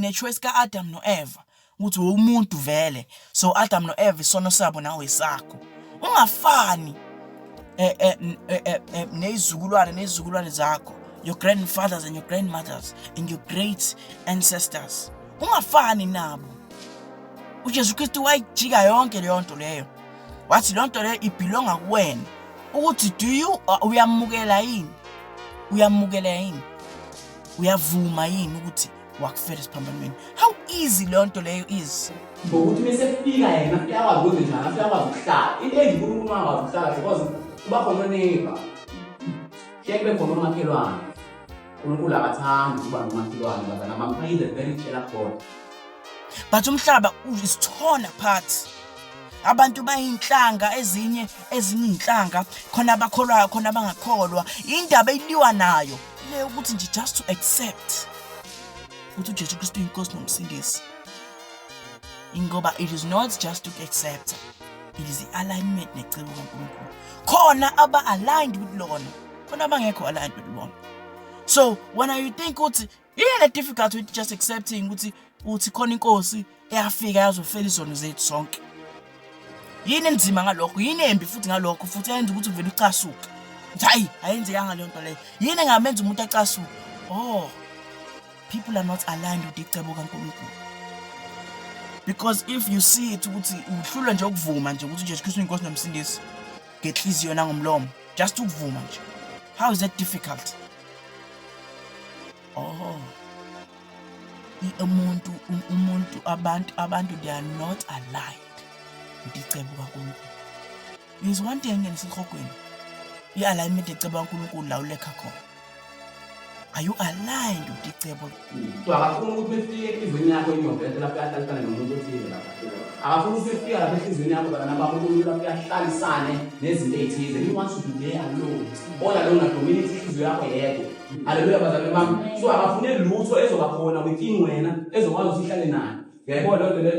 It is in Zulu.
ngechoice ka-adam no-eva ukuthi womuntu vele so adam no-eva isono sabo nawe sakho ungafani eh, eh, eh, nezizukulwane nezizukulwane zakho your grandfathers and your grandmothers and your great ancestors ungafani nabo ujesu kristu wayijika yonke leyo nto leyo wathi loo nto leyo ibhilonga kuwena ukuthi do you uh, uyamukela yini uyamukela yini uyavuma yini ukuthi wakufela esiphambanweni how easy leyo nto leyo is ngokuthi bese kufika yena afike akwazi ukwenza njani afike akwazi ukuhlala into enje unkulunkulu uma akwazi ukuhlala because kuba khona oneiba sheke kube khona umakhelwane unkulunkulu akathandi ukuba nomakhelwane ngoba nabamphayile very jealous god but umhlaba is torn apart abantu bayinhlanga ezinye ezininhlanga khona abakholwayo khona abangakholwa indaba iliwa nayo le ukuthi nje just to accept ukuthi uJesu Kristu inkosi nomsindisi ingoba it is not just to accept it is the alignment necebo kaNkulunkulu khona aba aligned with lona khona abangekho aligned with lona so when you think ukuthi iyena difficult with just accepting ukuthi uthi khona inkosi eyafika yazofela izono zethu sonke yini enzima ngalokho yini embi futhi ngalokho futhi yenza ukuthi uvele ucasuke hayi ayenzekanga leyo nto leyo yini engamenza umuntu acasuke oh people are not aligned with icebo kaNkulunkulu because if you see it ukuthi uhlulwa nje ukuvuma nje ukuthi uJesu Kristu inkosi nomsindisi ngenhliziyo nangomlomo just ukuvuma nje how is that difficult Oh. Umuntu umuntu abantu abantu they are not aligned. Ndiceba uNkulunkulu. Is one thing engisihogweni. I-alignment eceba uNkulunkulu la ulekha khona. Are you aligned with icebo Kuthiwa akafuni ukuthi befike enhliziyweni yakho inyovete lapho uyahlalisane nomuntu othile lapha akafuni ukuthi befika lapha enhliziyweni yakho bantwana bami umuntu lapho uyahlalisane nezinto ey'thize you want to be there alone all alone adominate inhliziyo yakho yedwa haleluya bazalwane bami so akafune lutho ezoba khona within wena ezokwazi ukuthi ihlale nayo uyayibona loo nto leyo